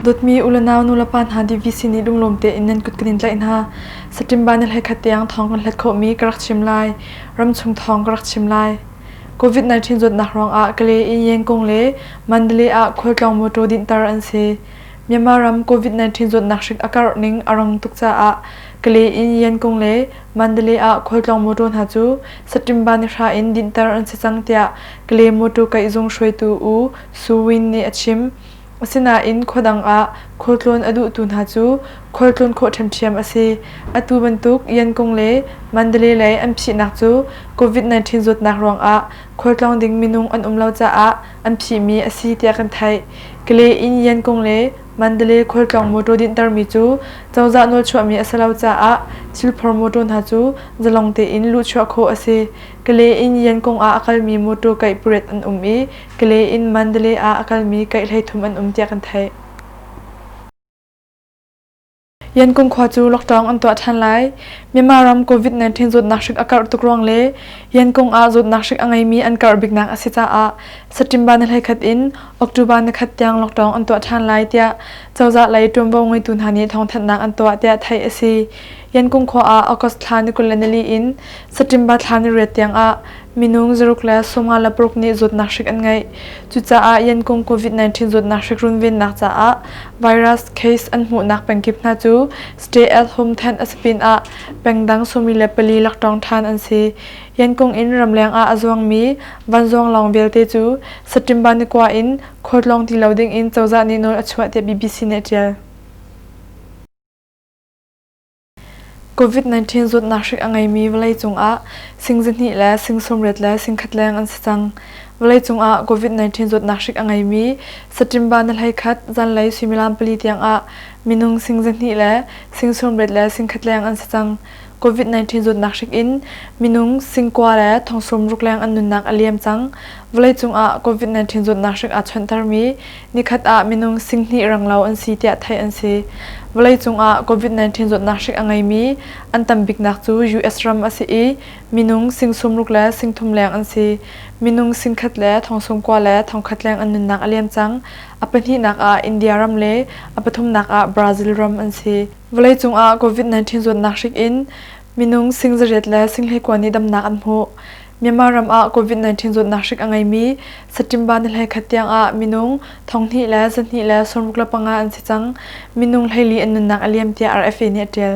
Dawtmi u le nau nulepa hna DVC nih lunglawm tein nan kut kan in tlaih hna. Saṭimba na hleikhat tiang thawng kan hlet khawhmi ka rak chim lai. Ramchung thawng ka rak chim lai. COVID-19 zawtnak ruangah Kale, Inyengkung le Mandalay ah khualtlawng mawṭaw dinhter an si. Myanmar ram COVID-19 zawtnak hrik a karh ning a rang tuk caah Kale in Yan Kung le Mandalay ah khualtlawng mawtaw hna cu September ni hra in dinhter an si cang tiah Kale mawtaw kaihzung hruaitu U Su Win nih a chim. Asinain khuadang ah khualtlawn a duhtu hna cu khualtlawn khawh ṭhiamṭhiam a si. Atu bantuk Yan Kung le Mandalay lei an phihnak cu COVID-19 zawtnak ruangah khualtlawng ding minung an um lo caah an phihmi a si tiah kan theih. Kale in Yan Kung le Mandalay khualtlawng mawṭaw dinhtermi cu cozah nawlchuahmi a si lo caah Chilphur mawṭaw hna cu zalong tein luhchuah khawh a si. Kalay in Yangon ah a kalmi mawṭaw kaih pariat an um i Kalay in Mandalay ah a kalmi kaih hleithum an um tiah kan theih. Yangon khua cu lockdown an tuah ṭhan lai. Myanmar ram COVID-19 zawtnak hrik a karh tuk ruang le Yangon ah zawtnak hrik a ngeimi an karh biknak a si caah September ni hleikhat in October ni khat tiang lockdown an tuah ṭhan lai tiah cozah lei ṭuanvo ngeitu hna nih thawngthanhnak an tuah tiah theih a si. Yangon khua ah August thla ni kul le nili in September thla ni riat tiangah Minung zaruk le sawmnga le paruk nih zawtnak hrik an ngeih. Cucaah yankung COVID-19 zawtnak hrik runvennak caah virus case an hmuhnak pengkip hna cu stay at home tent a si pinah pengdang sawmi le pali laktawng ṭhan an si. Yankung in ramleng ah a zuangmi vanzawng lawng vialte cu September ni kua in khualtlawng ti lo ding in cozah nih nawl a chuah tiah BBC nih a ṭial. COVID-19 zawtnak hrik a ngeimi vawleicung ah sing zihnih le sing sawmriat le singkhat leng an si cang. Vawleicung ah COVID-19 zawtnak hrik a ngeimi saṭimba ni hleikhat zanlei suimilam pali tiang ah minung sing zihnih le sing sawmriat le singkhat leng an si cang. COVID-19 zawtnak hrik in minung sing kua le thong sawm ruk leng an nunnak a liam cang. Vawleicung ah COVID-19 zawtnak hrik aa chawnhtermi Nikhat ah minung singhnih ranglo an si tiah theih an si. Vawleicung ah COVID-19 zawtnak hrik a ngeimi an tam biknak cu US ram a si i minung singsumruk le singthum leng an si. Minung singkhat le thongsung kua le thongkhat leng an nunnak a liam cang. A pahnihnak ah India ram le a pathumnak ah Brazil ram an si. Vawleicung ah COVID-19 zawtnak hrik in Minung sing zaret le singhei kuan nih damnak an hmuh. Myanmar ram ah COVID-19 zawtnak hrik a ngeimi September ni hlei khat tiang ah minung thonghnih le zanhnih le sawmruk le panga an si cang. Minung hleili an nunnak a liam tiah RFA nih a ṭial.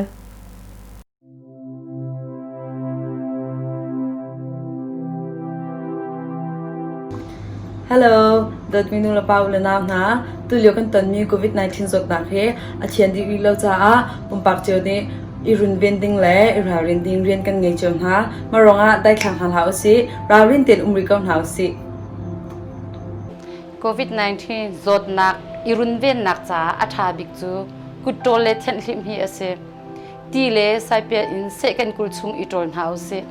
Hello, dawtmi nulepa u le nau hna. Tulio kan tonmi COVID-19 zawtnak hi a thian dih rih lo caah pumpak cio nih i runven ding le i ralrin ding rian kan ngei cio hna. Mah ruangah daithlang hal hlah usih, ralrin tein um rih ko hna usih. COVID-19 zawtnak i runvennak caah a ṭha bik cu kutṭawl le thianhhlim hi a si. Ti le saipial in seh kan kul chung i ṭawl hna usih.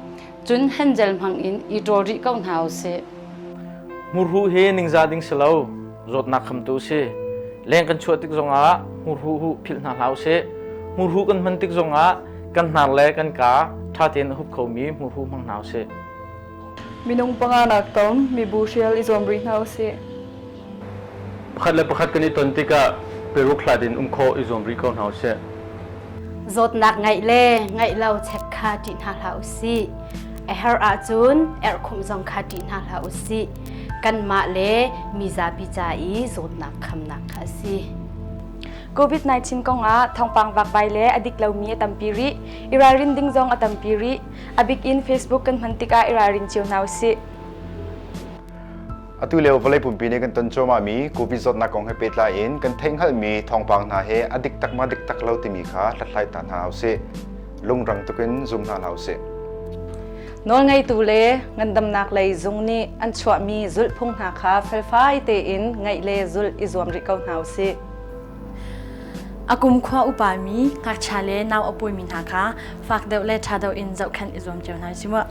Cun Hanzel hmangin i ṭawl rih ko hna u sih. Hmurhu hi ningza ding si lo, zawtnak khamtu si. Leng kan chuah tik zongah hmurhuhu philh hna hlah u sih. Hmurhu kan hman tik zongah kan hnar le kan kaa ṭha tein a hup khomi hmurhu hmang hna u sih. Minung panga nak tong, mibu hrial i zuam rih hna u sih. Pakhat le pakhat kan i ton tikah peruk hlat in um khawh i zuam rih ko hna usih. Zawtnak ngeih le ngeih lo check kha ṭih hna hlah usih. A her ahcun erhkhumh zong kha ṭih hna hlah usih. Kanmah le mizapi ca i zawtnak khamnak kha a si. COVID-19 kong ah thawngpang vakvai le a dik lomi a tampi rih. I ralrin ding zong a tampi rih. A bik in Facebook kan hman tikah i ralrin cio hna usih. Atu lio vawlei pumpi nih kan ton cuahmah mi Covid zawtnak kong he pehtlai in kan theihhngalh mi thawngpang hna he a dik tak ma dik tak lo timi kha hlathlai ta hna u sih. Lungrang tukin zum hna hlah u sih. Nawlngeitu le ngandamnak lei zung nih an chuah mi zulhphung hna kha felfai tein ngaih le zulh i zuam rih ko hna u sih. Akum khua upa mi ngakchia le nau apui mi hna kha fak deuh le tha deuh in zohkhenh i zuam cio hna u sih mu.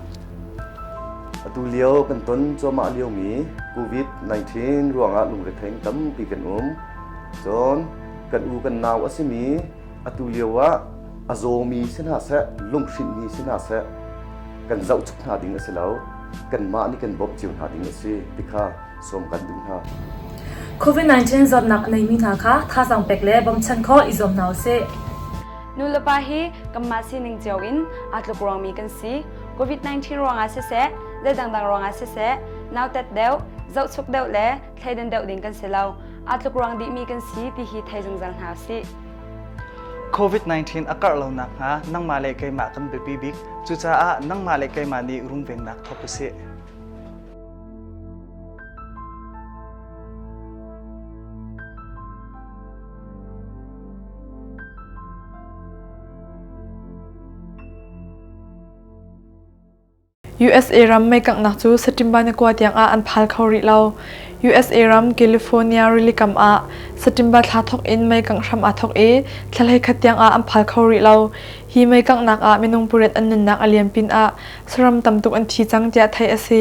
Atu lio kan ton cuahmah liomi COVID-19 ruangah lungretheng tampi kan um. Cun kan u kan nau a simi atu lio ah a zawmi si hna seh, lunghrinhmi si hna seh, kan zoh tuk hna ding a si lo. Kanmah nih kan bawmh cio hna ding a si ti kha sawm kan duh hna. COVID-19 zawtnak neimi hna kha thazang pek le bawmchan kho i zuam hna u sih. Nu le pa hi kanmah sining cio in aa tluk ruangmi kan si. COVID-19 ruangah siseh, le dangdang ruangah siseh, nautat deuh, zohchuk deuh le thleidan deuh ding kan si lo. Aa tluk ruang dihmi kan si ti hi thei zungzal hna usih. COVID-19 a karh lonak hnga nangmah le keimah kan biapi bik. Cucaah nangmah le keimah nih runvennak thawk usih. USA ram meikanghnak cu September ni kua tiang ah an phal kho rih lo. USA ram California rilikam ah September thla thawk in meikangh hram aa thawk i thlahlei khat tiang ah an phal kho rih lo. Hi meikanghnak ah minung pariat an nunnak a liam pin ah saram tam tuk an thi cang tiah theih a si.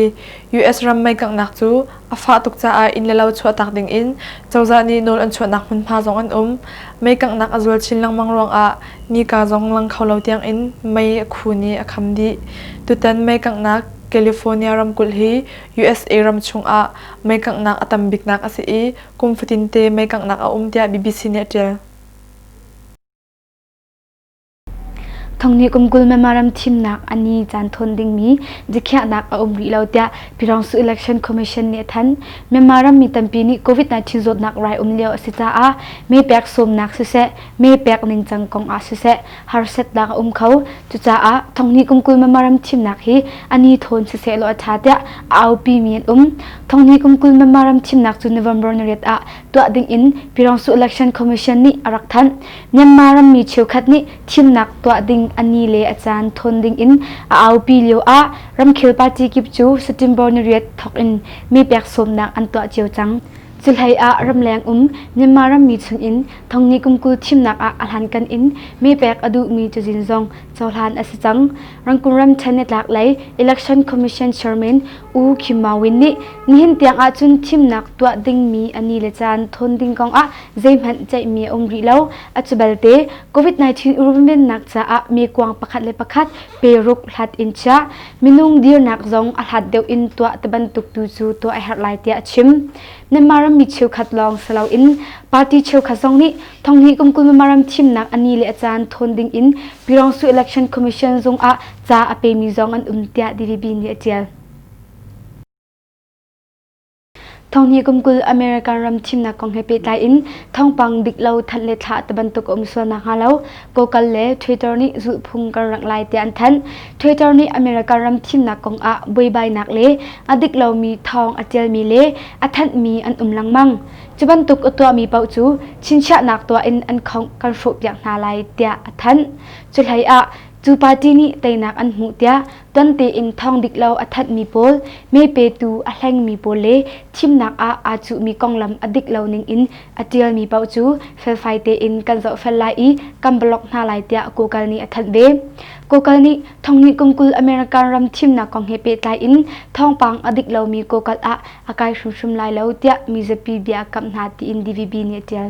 US ram meikanghnak cu A fah tuk caah inn le lo chuahtak dingin cozah nih nawl an chuahnak hmunhma zong an um. Mei kanghnak a zual chin lengmang ruangah nika zong lang kho lo tiangin mei a khun i a kham dih. Tutan mei kanghnak California ramkulh hi USA ram chungah mei kanghnak a tam biknak a si i kum fatinte mei kanghnak a um tiah BBC nih a ṭial. Thongni kum kul memorandum thimnak a ni caan thawn dingmi dikhiahnak a um rih lo tiah Pyirangsu Election Commission nih a thanh. Myanmar ram mi tampi nih COVID-19 zawtnak rai um lio a si caah mee pek sawmnak siseh, mee pek ningcang kong ah siseh harsatnak a um kho. Cucaah Thongni kum kul memorandum thimnak hi a ni thawn siseh law a ṭha tiah a aupi mi an um. Thongni kum kul memorandum thimnak cu November nariat ah tuah ding in Pyirangsu Election Commission nih a rak thanh. Myanmar rammi cheukhat nih thimnak tuah ding a ni le a caan thawn dingin a aupi lioah ramkhel party kip cu September nariat thawk in mee pek sawmnak an tuah cio cang. Cuhlei ah ramleng um Myanmar rammi chungin thongni kumkul thimnak ah a hlankan in mee pek a duhmi cazin zong cohlan a si cang. Rangkung ram ṭhen nitlak lei Election Commission Chairman U Kim Maw Win nih nihin tiang ahcun thimnak tuah dingmi a ni le caan thawn ding kongah zeihmanh ceihmi a um rih lo. A cubalte COVID-19 runvennak caah mi kuang pakhat le pakhat pe ruk hlat in chiah minung dirnak zong a hlat deuh in tuah te bantuk tu cu tuah a herh lai tiah a chim. Myanmar ram mi cheukhat lawng si loin party cheukhat zong nih thonghni kum kul Myanmar ram thimnak ani le a caan thawn ding in Pirongsu Election Commission zung ah ca a pemi zong an um tiah DVB nih a tial. Thonghni kumkul America ram thimnak kong he pehtlai in thawngpang bik lo thanh le thlah te bantuk a um sual nakhnga lo Kokal le Twitter nih zulhphung kan rak lai tiah an thanh. Twitter nih America ram thimnak kong ah buaibainak le a dik lomi thawng a tialmi le a thanhmi an um lengmang. Cu bantuk a tuahmi paoh cu chinchiahnak tuah in an khongh kan hrawhpiak hna lai tiah a thanh. Cu hlei ah cu party nih teinak an hmuh tiah Ton tein thawng dik lo a thatmi pawl, mee petu a hlengmi pawl le thimnak ah aa cuhmi konglam a dik lo ning in a ṭialmi paoh cu felfai tein kan zohfel lai i kan blog hna lai tiah Google nih a thanh ve. Google nih thongnih kum kul American ram thimnak kong he pehtlai in thawngpang a dik lomi Google ah a kai hrimhrim lai lo tiah mizapi bia a kamh hna tiin DVB nih a ṭial.